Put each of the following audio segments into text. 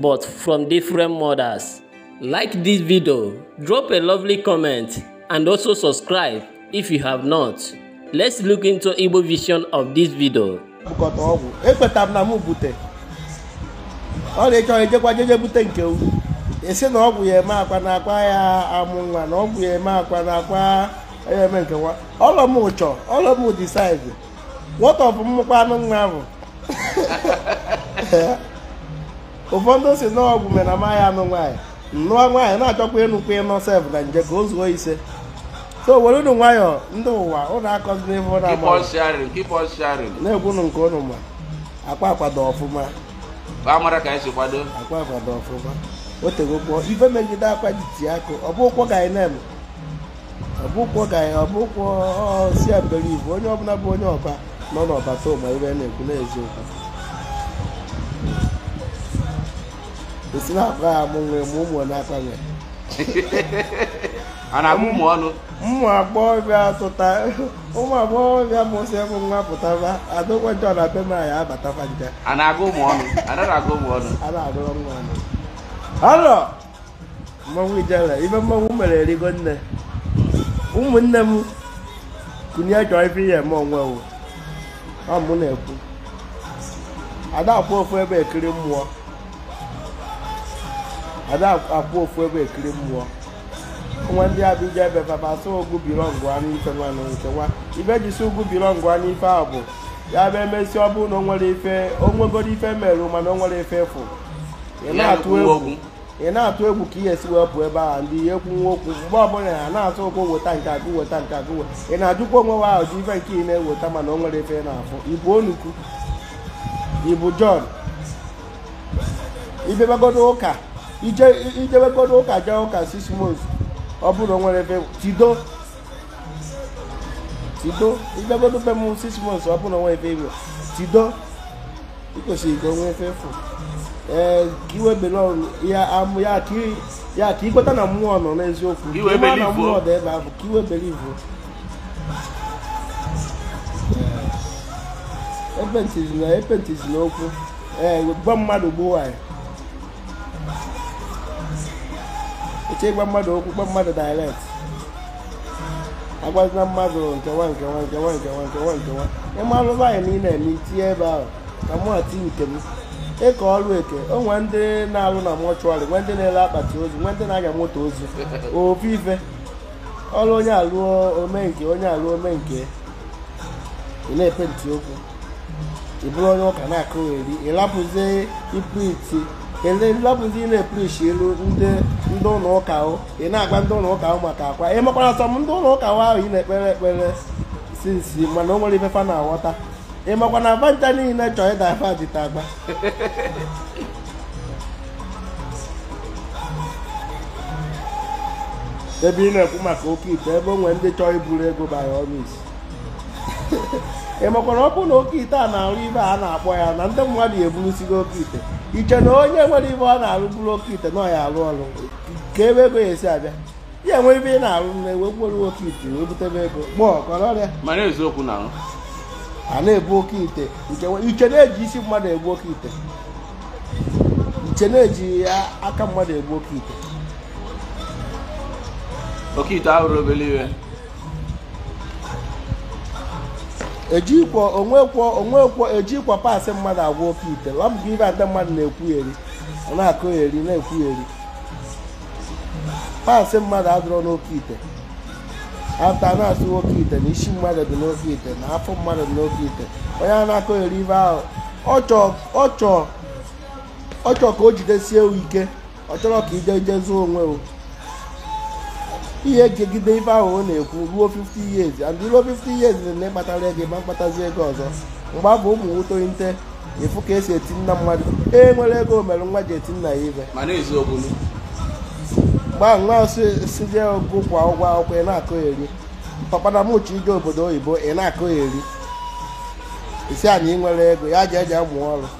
but from different mothers. Like this video, drop a lovely comment and also subscribe if you have not. Let's look into Igbo version of this video. bukọta ọgwụ ekwetara m na m bute ọ na-echọrọ ejekwa jeje bute nke u esi na ọgwụ ya eme akwa na akwa ya amụ nwa na ọgwụ ya eme akwa na akwa ya eme nke nwa ọlọ m ụchọ ọlọ m decide what of mmụkwa anụ nwa bụ ụfọdụ si na ọgwụ mere na amaghị anụ nwaanyị nụọ nwaanyị na-achọkwa ịnụkwa ịnọ sef na nje ka o zuo ise so were unu nwayọọ ndị ụwa ụnụ akọzina ife ụnụ keep on ama sharing keep on sharing na-ekwunu nke ụnụ ma akwa akwado ọfụma ka amara ka anyị si kwado akwa akwado ọfụma o tegokwọ ife megide akwa ji tie akụ ọ bụkwọ ka anyị na-eme ọ bụkwọ ka ya ọ bụkwọ si a believe onye ọbụla bụ onye ọba nọ n'ọba too ma ibe na-ekwu n'eziokwu esi na-akpa ya mụ nwee ma ụmụ na-akpa nwee a na-agụ ụmụ ọnụ ụmụ agbọghọbịa tụta ụmụ agbọghọbịa mụsị bụ nwa pụtaba adịkwa njọ na be m anyị abataba nje a na-agụ ụmụ ọnụ a na-agụ ụmụ ọnụ a na-agụrụ nwa ọnụ ọnụ mmanwụ ijele ibe mmanwụ mere erigo nne ụmụnne m kunye chọọ ife ihe eme onwe wo ọ mụ na-ekwu ada akwụ ofu ebe ekiri mmụọ ada akwụ ofu ebe ekiri mmụọ nwa ndị abịja ebe papa sị ọgwụ belongụa n'ife nwa na nke nwa ife ji sị ọgwụ belongụa n'ife a bụ ya bụ emesi ọ bụrụ na o nwere ife o nwegoro ife merụ mana o nwere ife ị fụ ị na-atụ egwu okwu ị na-atụ egwu ka ihe esi wee pụọ ebe ahụ ndị ihe kwunwe okwu mgbe ọbụla ya na-atụ ụkwụ weta nke agụ weta nke agụ weta ị na-ajụkwa onwe wa ahụ ji ife nke ị na-eweta mana o nwere ife ị na-afụ ị bụ onukwu ị bụ John i jebegodo ụka i je i jebegodo ụka jee ụka six months ọ bụrụ o nwere ife tido tido i jebegodo be m six months ọ bụrụ o nwere ebe i wee tido i kwesịrị ka o nwee ife ị fụ ee ka i wee belong ya amụ ya ka i- ya ka i kweta na mmụọ nọ n'eziokwu ka i wee ị mara na believe, mmụọ o. dị ebe ahụ ka i wee believe epentizina epentizina okwu ee gwa mmadụ gbuo anyị eche gwa mmadụ okwu gwa mmadụ direct agwazina mmadụ nke nwa nke nwa nke nwa nke nwa nke nwa nke nwa ịma alụba anyị na ị na-eme itinye ebe ahụ ka mụ ati nke m e ke ọrụ eke o nwee ndị na-alụ na mortuary nwee ndị na-ele akpati ozu nwee ndị na-anya moto ozu ofu ife ọrụ onye alụọ o me nke onye alụọ o me nke ị na-epenti okwu ị bụrụ onye ụka na-akọgheri ị lapụzi ipreachi ele lapụzi ị na-epreachielu ndị ndị ụlọ ụka ahụ ị na-agwa ndị ụlọ ụka ahụ maka akwa ị makwara sọ m ndị ụlọ ụka ahụ ahụ ị na-ekpere ekpere since mana o nwere ife fa na-aghọta ị makwa na fa ncha niile chọọ ịda fa dịta agba ebe ị na-ekwu maka oke ite ebe o nwere ndị chọọ iburu ego by all means ị makwara ọ bụrụ na oke ite a na-arụ ife a na-akpọ ya na ndị mmadụ eburusigo oke ite ị che na onye nwere ife ọ na-arụ buru oke ite na ọ ya-arụ ọrụ ka ebe ego ya esi abịa ya nwee ife ị na-arụ na ewe gwere oke ite wee butebe ego kpọọ kọrọ ọrịa mana eziokwu na ahụ a na-ebu oke ite nke nwe- ị che na e ji isi mmadụ agwọ oke ite ị che na e ji a- aka mmadụ agwọ oke ite oke ite abụrọ obere ife ejikwa o nwekwọ o nwekwọ ejikwọ parts mmadụ agwọ oke ite ọ bụkwa ife ndị mmadụ na-ekwugheri ọ na-akọgheri na-ekwugheri parts mmadụ adịrọ n'oke ite after na-asụ n'oke ite na isi mmadụ dị n'oke ite na afọ mmadụ dị n'oke ite onye a na-akọgheri ife ahụ ọ chọọ ka o jidesie ike ọ chọrọ ka ije ije zụọ onwe o ihe jigide ife ahụ ọ na-ekwu ruo 50 years and ruo 50 years na ịkpatara ego ma mkpatazi ego ọzọ mgbe abụ ụmụ nwoke nte ị fụ ka e si eti nna mmadụ e nwere ego mere nwa ji eti nna ya ife gbaa nwa sị je ọgụ kwụọ ụgwọ akwụkwọ ị na-akọgheri papa na mụ chọ ije obodo oyibo ị na-akọgheri ị sị anyị nwere ego ya ji eje amụ ọrụ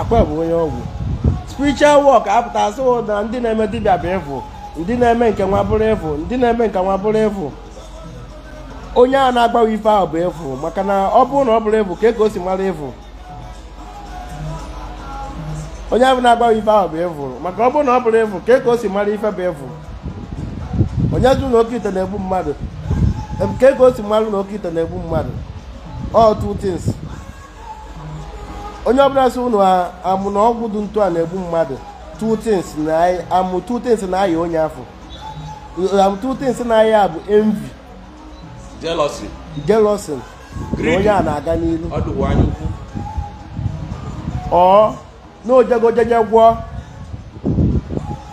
akwa bụ onye ọgwụ spiritual work apụta asụ na ndị na-eme dibịa bụ evil ndị na-eme nke nwa bụrụ evil ndị na-eme nke nwa bụrụ evil onye a na-agwa gị ife ahụ bụ evil maka na ọ bụrụ na ọ bụrọ evil kee ka o si mara evil onye ahụ na-agwa ife ahụ bụ evil maka ọ bụrụ na ọ bụrọ evil kee ka o si mara ife bụ evil onye sị na oke ite na-egbu mmadụ kee ka o si mara na oke ite na-egbu mmadụ all two things onye ọbụla sị ụnụ amụ na ọgwụ dị ntu a na-egbu mmadụ two things na amụ two things na-aya onye afụ amụ two things na-aya ya bụ envy jealousy jealousy na onye a na-aga n'ilu ọ na o jego jeje gwọọ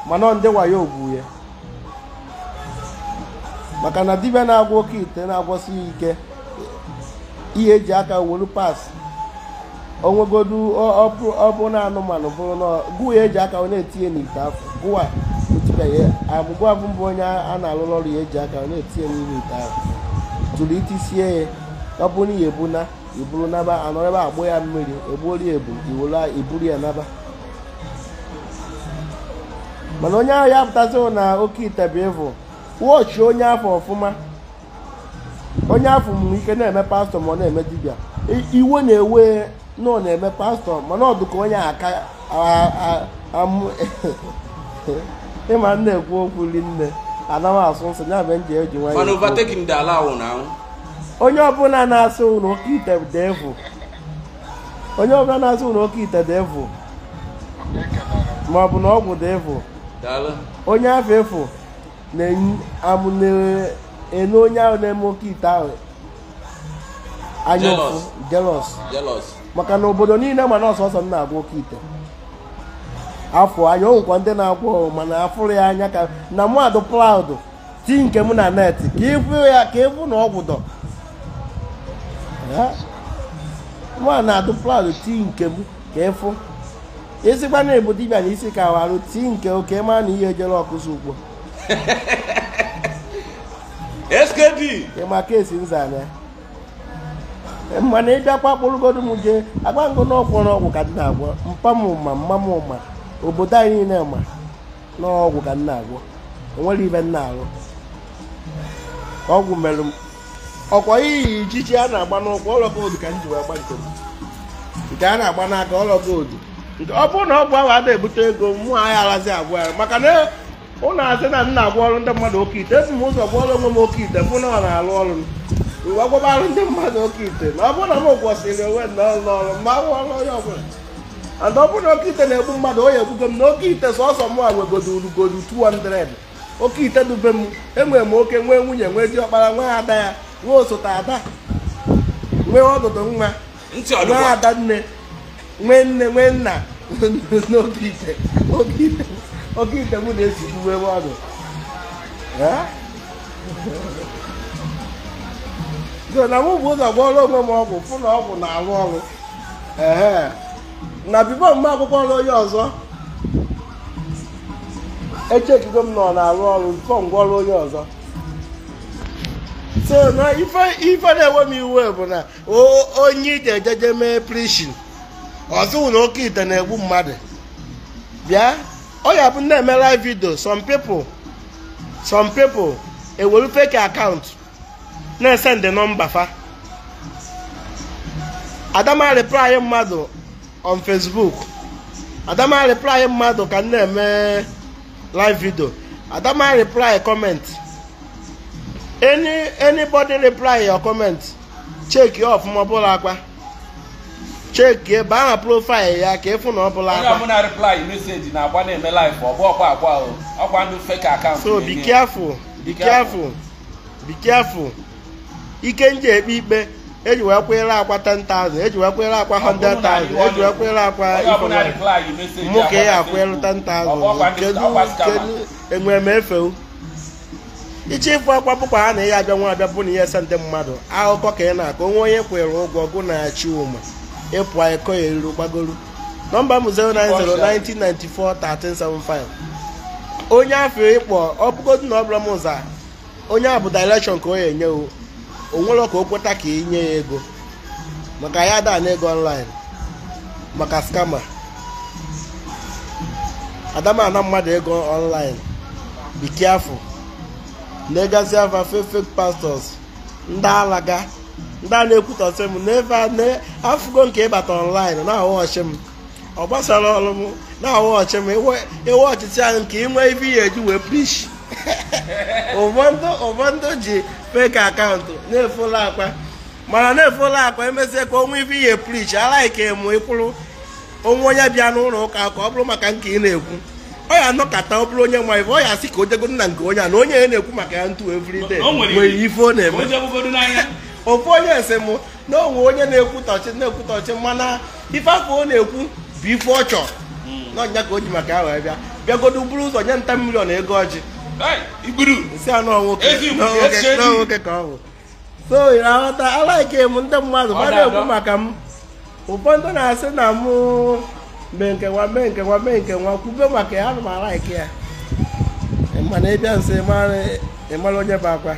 mana ndị wayo ogbu ya maka na dibịa na-agwọ oke ite na-agwọsi ike ihe e ji aka wolu parts onwegodu ọbụ na anụmanụ bụrụ na gụwa eji aka onye etinye n'ite afụ gụwa otibeghị agbụgbụ abụ mbụ onye a na-alụrụ ọrụ ya eji aka onye etinye n'ime ite ahụ jụrụ itisie ya ọ bụrụ na ya ebu na iburu naba anọrọ ebe agbụ ya mmiri egbuola ya ebu iwere iburu ya naba mana onye ahụ ya pụta sị na oke ite bụ evil watch onye afụ ọfụma onye afụ nwere ike na-eme pastor ma ọ na-eme dibịa iwe na-ewe na ọ na-eme pastor mana ọ dụka onye aka amụ ịma m na-ekwu okwu rinne anaghị asụ nsụ ya bụ m je-eji nwayọ onye ọbụla na-asị na oke ite dị evil onye ọbụla na-asị na oke ite dị evil ma ọ bụ na ọgwụ dị evil onye afụ efu na-ene onye ahụ na-eme oke ite ahụ anya ụfụ jealous maka na obodo niile ma na ọ sọsọ m na-agwọ oke ite afụ anya onwekwa ndị na-agwọ mana afụrọ ya anya ka na m adụ proud ti nke m na net ka ịfụ ya ka ịfụ na ọgwụ dụ mwa na-adụ proud ti nke m ka ịfụ esikwa na ebu dibịa na isi ka warụ tii nke oke ma na ihe ejere ọkụzi ugbo skd ịma ka esi nzana mana ịbịakwa kpọrọgodu m jee agba ngo na ọgwụ na ọgwụ ka m na-agwọ mpa m ma mma m ma obodo anyị niile ma na ọgwụ ka m na-agwọ onwere ibe m na-arụ ọgwụ merụ m ọkwa iyi ijiji a na-agba n'ụkwụ ọla gold ka m ji wee gba nke m nke a na-agba n'aka ọla gold nke ọ bụrụ na ọgwụ ahụ ada ebute ego mụ anyị alazi agwọ ya maka na ụlọ asị na m na-agwọrọ ndị mmadụ oke ite ebu m ụzọ gwọrọ onwe m oke ite fụ na ọ na-arụ ọrụ m mgbe agwọbara ndị mmadụ oke ite na ọ bụrụ na m gwọsịrị onwe m na ọrụ ọrụ mgbe ahụ ọrụ onye ọbụla and ọ bụrụ na oke ite na-egbu mmadụ ọ ya-egbugo m na oke ite sọsọ mụwa nwegodo orugodo 200 oke ite dube m enwere m oke nwee nwunye nwee diọkpara nwee ada ya nwee osote ada nwee ọdụdụ nwa nwee ada nne nwee nne nwee nna n'oke ite oke ite oke ite m na-esigbu wee nwe ọdụ Eh? so na mụ bu ụzọ gwọrọ onwe m ọgwụ fụ na ọgwụ na-arụ ọrụ ehe na before m ga-agwọkwara onye ọzọ echeckigo m na ọ na-arụ ọrụ before m gwọrọ onye ọzọ so na ife ife na-ewe m iwe bụ na o- onye ije ejeje mee preaching ọ sị wụ na oke ite na-egbu mmadụ bịa ọ ya-abụ m na-eme live video some people some people ewere fake account na-esendị nọmba fa ada m areply mmadụ on Facebook ada m areply mmadụ ka m na-eme live video ada m areply comment anybody reply your comment check ya ọfụma ọ bụlọ Akwa check ya baa na profile ya ka ị fụ na ọ bụlọ Akwa onye ọbụla reply message na-agba na-eme live ọ bụlọ Akwa o ọkwa ndị fake account so be careful be careful be careful ike nji ekpe ikpe eji wee kwere akwa 10,000 eji wee kwere akwa 100,000 eji wee kwere akwa mụ ka ya akwere 10,000 kedu enwe m efe wu i che ịfụ akwa bụkwa ha na ị ya-abịa nwa abịa bụ na ị ya-esendị mmadụ akụkọ ka ị na-akọ o nwe onye kwere ụgwọ gụ na achị ụma ịpụ ịkọ ya eriri gbagoro nọmba m 09019941375 onye afụ ị kpọ ọ bụgodị na ọ bụlọ mụ za onye a bụ direction ka ọ ya-enye wu o nwelọ ka o kweta ka ị nye ya ego maka anyị ada ana ego online maka scammer ada m ana mmadụ ego online be careful na-egazi afa fake fake pastors ndị alaga ndị a na-ekwutọsị m n'ebe afụgo nke ịbata online na-aghọghọchi m ọ gbasalọ m na-aghọghọchi m ewe ọchịchị ahụ nke inwe ife ị ya-eji wee preach ụfọdụ ji fake account na-efollow Akwa mana na-efollow Akwa emezie ka o nwe ife ị ya-preach alaike m ịkwụrụ o nwe onye bịa n'ụlọ ụka ka ọ bụrụ maka nke ị na-ekwu ọ ya anọkata ọ bụrụ onye nwe ife ọ ya asị ka o jegodu na nke onye a na onye ya na-ekwu maka ya ntu everyday o nwere ife ọ na-eme ofu onye sị m na o nwe onye na-ekwutọchị na-ekwutọchị mana ife afụ ọ na-ekwu bụ ife ọ chọrọ na ọ nya ka o ji maka ya wee bịa bịagodu buru ụzọ nye nta million ego ọjị m sị na nwoke ka ọ bụ so ị na-aghọta alaike m ndị mmadụ ma na-ekwu maka m ụfọdụ na-asị na mụ mee nke nwa mee nke nwa mee nke nwa kwube maka ya ana m alaike ya mana ị bịa nso ị mara onye bụ Akwa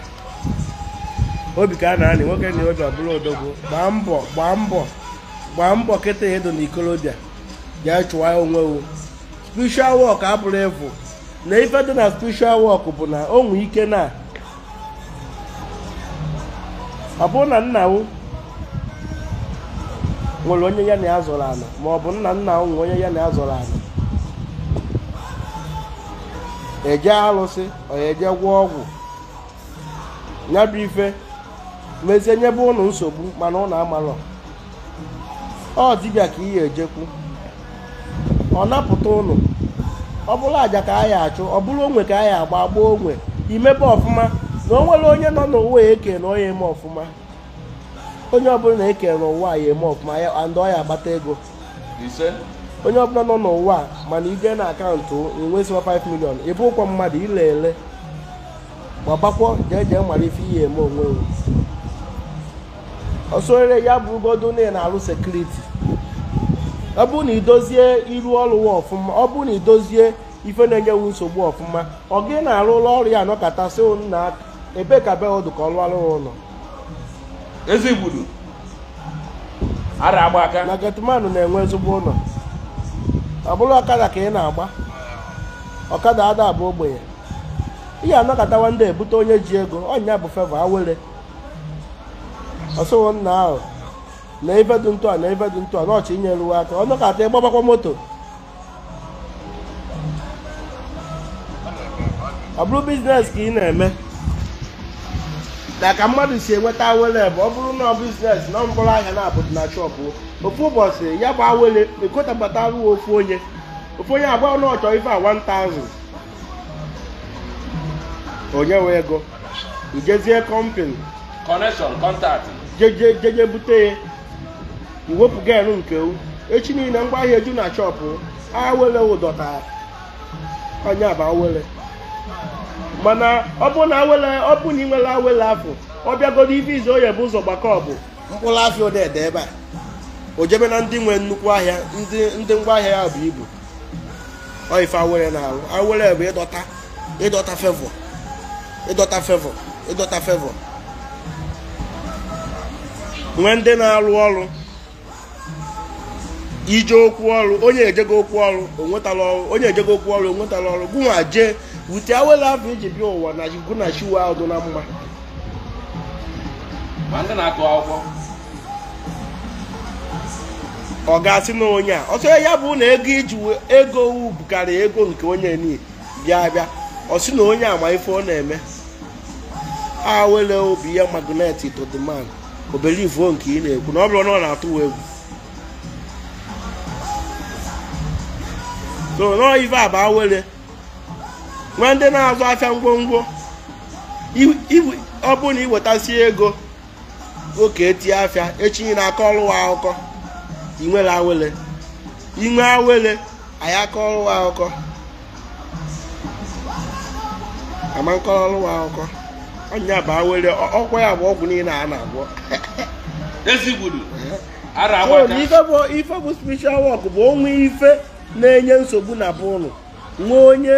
obi ka a na-anị nwoke na obi ọ bụlụ odogwu gbaa mbọ gbaa mbọ gbaa mbọ kịta ị dụ na ikolobịa bịa chọwa onwe wu spiritual work abụrọ efu na ife dị na spiritual work bụ na o nwe ike na ọ bụrụ na nna wu nwere onye ya na ya zọrọ ana ma ọ bụ nna nna wu nwere onye ya na ya zọrọ ana eje alụsị ọ ya eje gwọọ ọgwụ ya bụ ife mezie nyebe ụnụ nsogbu mana ụnụ amalọ ọ dibịa ka ị ya ejekwu ọ napụta ụnụ ọ bụrụ aja ka a ya achụ ọ bụrụ onwe ka a ya agba agbaa onwe i mebe ọfụma na o nwere onye nọ n'ụwa eke na ọ ya eme ọfụma onye ọbụla na eke n'ụwa ya eme ọfụma ya and ọ ya agbata ego onye ọbụla nọ n'ụwa mana i je na akaụntụ nwesịwa 5 million ị bụụkwọ mmadụ ile ele gbabakwọ jee jee mara ife ị ya eme onwe wụ ọ sọrere ya bụrụgodo na ị na-arụ sekuriti ọ bụrụ na i dozie iru ọrụ wa ọfụma ọ bụrụ na i dozie ife na-enye wụ nsogbu ọfụma ọga ị na-arụrụ ọrụ ya anọkata sị na ebe ka be wụ dụ ka ọ lụọrụ ụlọ ezigbudu ada agba aka na getmanụ na-enwe ezigbo ụlọ ọ bụrụ ọkada ka ị na-agba ọkada ada abụ ogbenye ị ya anọkatawa ndị ebute onye ji ego ọ ya bụ fevọ awele ọ sị wụ nna ahụ na ife dị ntụ a na ife dị ntụ a na ọ chọ inyere wụ aka ọ nọkata ị gbabakwa moto ọ bụrụ biznes ka ị na-eme na ka mmadụ si enweta awele bụ ọ bụrụ na ọ biznes na mkpụrụ ahịa naabọ dị na shọpụ ofu ụbọchị ya bụ awele ekotabata ruo ofu onye ofu onye agba na ọ chọ ife a 1000 o nye wụ ego i jezie kọmpani connection contact jeje jeje bute ya i wepụ gain nke wụ echi niile ngwa ahịa eju na shọpụ awele ịdọta ọ ya bụ awele mana ọ bụ na awele ọ bụ na ị nwere awele afọ ọ bịagodo ife izu ọ ya ebu ụzọ gbakọ bụ mkpụrụ afịa one dị ebe a o jebe na ndị nwe nnukwu ahịa ndị ndị ngwa ahịa ha bu ibu ọ ife awele na-alụ awele bụ ịdọta ịdọta fevọ ịdọta fevọ ịdọta fevọ nwee ndị na-alụ ọrụ i je okwu ọrụ onye ejego okwu ọrụ onwetala ọrụ onye ejego okwu ọrụ onwetala ọrụ gụ nwa jee wute awele afọ i ji bịa ụwa na gụ na chi wụ adị na mma ma ndị na-agụ akwụkwọ ọ ga-asị na onye a ọ sọ ya bụ na ego i ji ego wụ bukarị ego nke onye niile bịa bịa ọ sị na onye ama ife ọ na-eme awele ọ bịa magnet to the man o belivuo nke ị na-ekwu na ọ bụrụ na ọ na-atụ egwu so na ọ ife a bụ awele nwee ndị na-azụ afịa ngwongwo ọ bụrụ na i wetasie ego oke etie afịa echi ị na-akọrọ ụwa akụkọ ị nwere awele inwe awele anyị akọrọ ụwa akụkọ ama akọrọ ụwa akụkọ ọ nya bụ awele ọ- ọkwa ya bụ ọgwụ niile a na-agwọ ezigbudu ara So, agbata na ife bụ ife bụ spiritual work bụ o nwe ife na-enye nsogbu na be ụnụ nwee onye